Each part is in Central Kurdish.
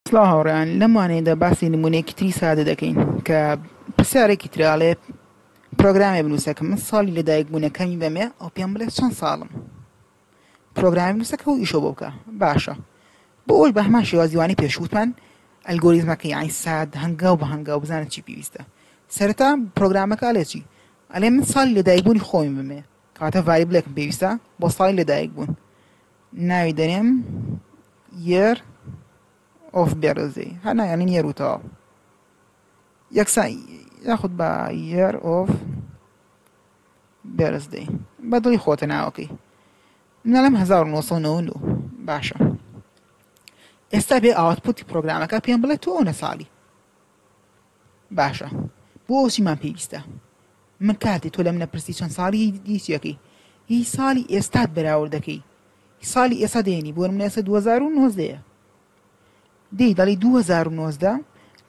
سڵاو هاوڕێیان لەم وانەیەدا باسی نمونەیەکی تری سادە دەکەین کە پرسیارێکی ترە ئەڵێ پرۆگرامێ بنووسە کە من ساڵی لەدایک بوونە کەمی بەمێ ئەو پێم بڵێ چەند ساڵم پرۆگرامی بنووسە کە ئەو ئیشە بۆ بکە باشە بۆ ئەوش بە هەمان شێوازیوانی پێشوتمان ئەلگۆریزمەکە یانی ساد هەنگاو بە هەنگاو بزانە چی پێویستە سەرەتا پرۆگرامەکە ئەلێ چی ئەلێ من ساڵی لەدایکبوونی خۆمی بمێ کاتە ڤایبلێکم پێویستە بۆ ساڵی لەدایک بوون ناوی دەنێم یێر ئۆف بێرزی هەر نایانین یێر و تەواو یەکسان یاخود بە یێر ئۆف بێرزدەی بە دڵی خۆتە ناوەکەی منەڵم 1992 باشە ئێستا بێ ئاوتپوتی پرۆگرامەکە پێم بڵێ تۆ ئەوە ساڵی باشە بۆ چیمان پێویستە من کاتێ تۆ لەم نەپرسی چەند ساڵی دیچەکەی هی ساڵی ئێستات بەراورد دەکەی ساڵی ئێستا دێنی بۆ من ئێستا 2009 دی دەڵی 2009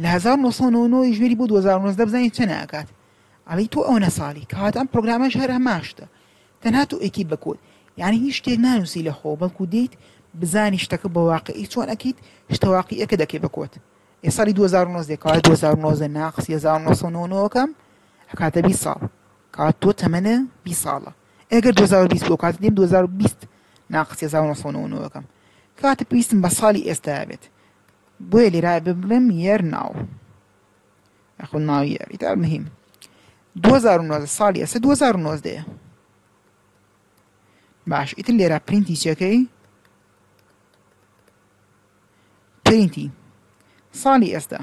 لە 1990 ژێری بۆ 2009 بزانین چە ناکات ئەڵی تۆ ئەو نەساڵی کات ئەم پرۆگرامەش هەر هەماشتە تەنها تۆ ئەکی بکوت یعنی هیچ شتێک نانووسی لە خۆ بەڵکو دیت بزانی شتەکە بە واقعی چۆن ئەکیت شتەواقی ئەکە دەکەی بکوت ئێ سالی دوو هەزار و نۆزدە کەواتە دوو هەزار و نۆزدە ناقسی هەزار و نۆ سەد و نەوە و نۆ کەم ئەکاتە بیست ساڵ کەواتە تۆ تەمەنە بیست ساڵە ئەگەر دوو هەزار و بیست بۆ کاتە دێم دوو هەزار و بیست ناقسی هەزار و نۆ سەد و نەوە و نۆ کەم کەواتە پێویستم بە ساڵی ئێستا بێت بۆیە لێرا ببڵێم یەر ناو یاخۆ ناو یەر ئیتا مهم دوو هەزار و نۆزدە ساڵی ئێستا دوو هەزار و نۆزدەیە باش ئیتر لێرا پرینتی چەکەی پرینتی ساڵی ئێستا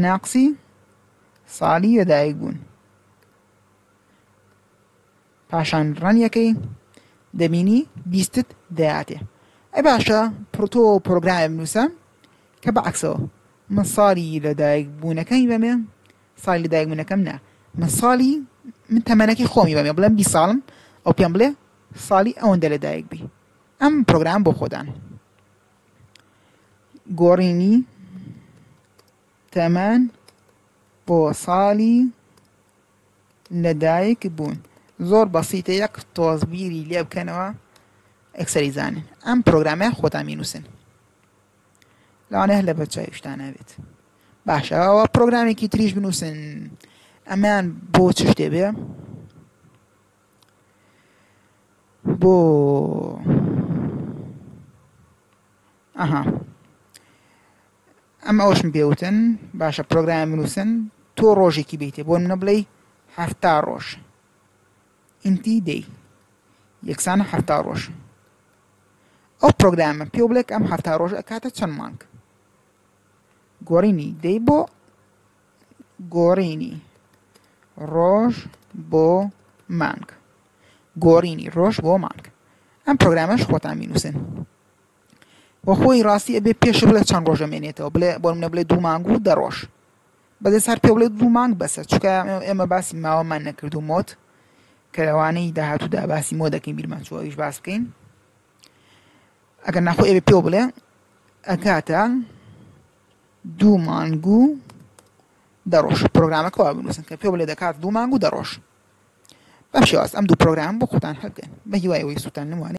ناقسی ساڵی لەدایک بوون پاشان ڕەنیەکەی دەبینی بیستت دەیاتێ ئە باشە پرۆتۆ پرۆگرام نووسە کە بەعکسەوە من ساڵی لەدایک بوونەکەی بەمێ ساڵی لەدایک بوونەکەم نا من ساڵی من تەمەەکی خۆمی بەمێ بڵێم بی ساڵم ئەو پێم بڵێ ساڵی ئەوەندە لەدایک بی ئەم پرۆگرام بۆ خۆدان گۆڕینی تەمەن بۆ ساڵی لەدایک بوون زۆر بەسیتە یەک تۆز بیری لێ بکەنەوە ئەکسەری زانن ئەم پرۆگرامە خۆتان مینووسن لەوانە هەر لە بەرچاویشتان نابێت باشەوە پرۆگرامێکی تریش بنووسن ئەمان بۆ چ شتێ بێ بۆ ئەها ئەم ئەوشم پێوتن باشە پرۆگرام بنووسن تۆ ڕۆژێکی بیتێ بۆ منە بڵێ هەفتا ڕۆژ ئینتی دەی یەکسانە هەفتا ڕۆژ ئەو پرۆگرامە پێ بڵێک ئەم هەفتا ڕۆژ ئەکاتە چەند مانگ گۆڕینی دەی بۆ گۆڕینی ڕۆژ بۆ مانگ گۆڕینی ڕۆژ بۆ مانگ ئەم پرۆگرامەش خۆتان مینووسن بۆ خۆی ڕاستی ئەبێ پێش بڵێ چەند ڕۆژە مێنێتەوە بڵێ بۆ منە بڵێ دوو مانگ و دە ڕۆژ بەدەست هەر پێ بڵێ دوو مانگ بەسە چکە ئێمە باسی ماوەمان نەکرد و مۆت کە لەوانەی داهاتوودا باسی مۆ دەکەین بیرمان چوە ئەویش باس بکەین ئەگەر ناخۆ ئێبێ پێ بڵێ ئەکاتە دوو مانگ و دە ڕۆژ پرۆگرامەکە وا بنووسن کە پێ بڵێ دەکات دوو مانگ و دە ڕۆژ بەم شێواز ئەم دوو پرۆگرام بۆ خۆتان هەبگەن بە هیوای ئەوەی سوودتان نموانێ